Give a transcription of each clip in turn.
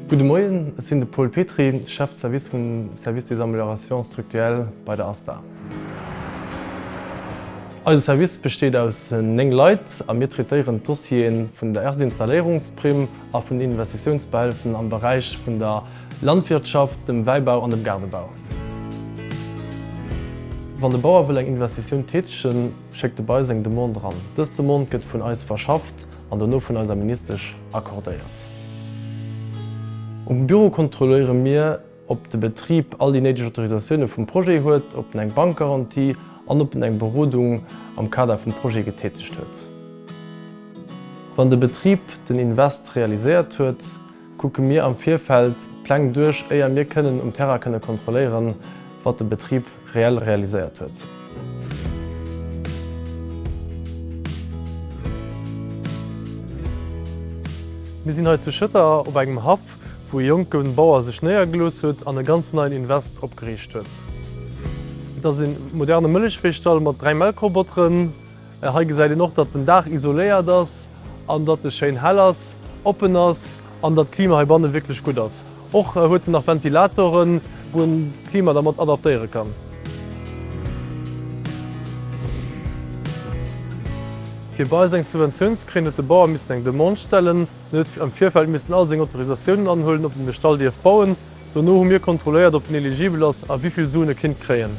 Gudde Moien, ech sinn de Paul Petry, Chef de Service vum Service des Améliorations structuelles bei der ASTA. Eise Service besteet aus néng Leit a mir traitéieren d'Dossiere vun der Erstinstalléierungsprimm, a vun Investitiounsbeihëlfen am Beräich vun der Landwirtschaft, dem Wäibau an dem Gaardebau. Wann de Bauer wëll eng Investitioun tätegen, schéckt e bei eis eng Demande eran. Dës Demande gëtt vun eis verschafft an dono vun eiser Ministesch accordéiert. Um Büro kontrolléiere mir, ob de Betrib all déi néideg Autorisatioune vum Projet huet, ob en eng Bankgarantie an ob en eng Berodung am Kader vum Projet getätegt huet. Wann de Betrib den Invest realiséiert huet, kucke mir am Virfeld d'Pläng duerch, éier mir kënnen um Terrain kënne kontrolléieren, wat de Betrib. reell realiséiert huet. Mir sinn hei zu Schëtter op engem Haff, wou e jonke Bauer sech néiergelooss huet an e ganz neien Invest opgeriicht huet. Et ass e moderne Mëllechviehstall mat dräi Melkrobotteren. Hei gesäit een och, datt den Daach isoléiert ass an datt e schéin hell ass, oppen ass an datt d'Klima heibanne wierklech gutt ass. Och huet en nach Ventilatoren, wou een d'Klima da mat adaptéiere kann. Fir bei eis eng Subventioun ze kréien, huet de Bauer missen eng Demande stellen. En huet am Virfeld missen all seng Autorisatiounen anhuelen, ob en de Stall dierf bauen. Dono hu mir kontrolléiert, ob en eligibel ass a wivill Suen e kinnt kréien.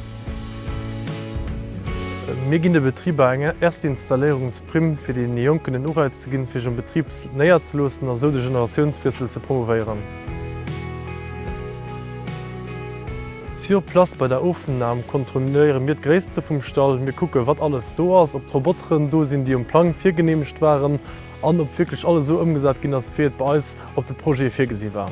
Mir ginn de Betriber eng erste Installéierungsprimm, fir deene Jonken en Ureiz ze ginn, sech am Betrib néierzeloossen a sou de Generatiounswiessel ze promouvéieren. Sur place bei der Ofnam kontrolléiere mir d'Gréisste vum Stall. Mir kucken, wat alles do ass, ob d'Roboteren do sinn, déi um Plang virgeneemegt waren an ob wierklech alles esou ëmgesat ginn ass, wéi et bei eis op de Projete virgesi war.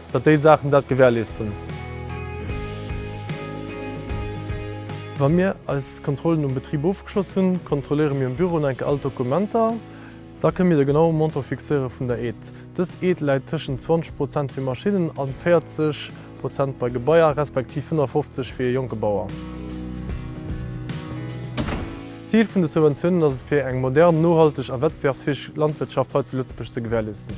Datt déi Saachen dat gewährleesten. Wa mir eis Kontrollen um Betrib ofgeschloss hunn, kontrolléiere mir um Büro nach eng Kéier all d'Dokumenter. Da kënne mir de genaue Montant fixéiere vun der Aide. Dës Aide läit tëschent 20 Prozent fir Maschinnen a 40 Prozent bei Gebaier, respektiv 55 fir ee jonke Bauer. D'Zil vun de Subventiounen ass et fir eng modern, nohalteg a wettbewerbsfäeg Landwirtschaft hei zu Lëtzebuerg ze gewährleesten.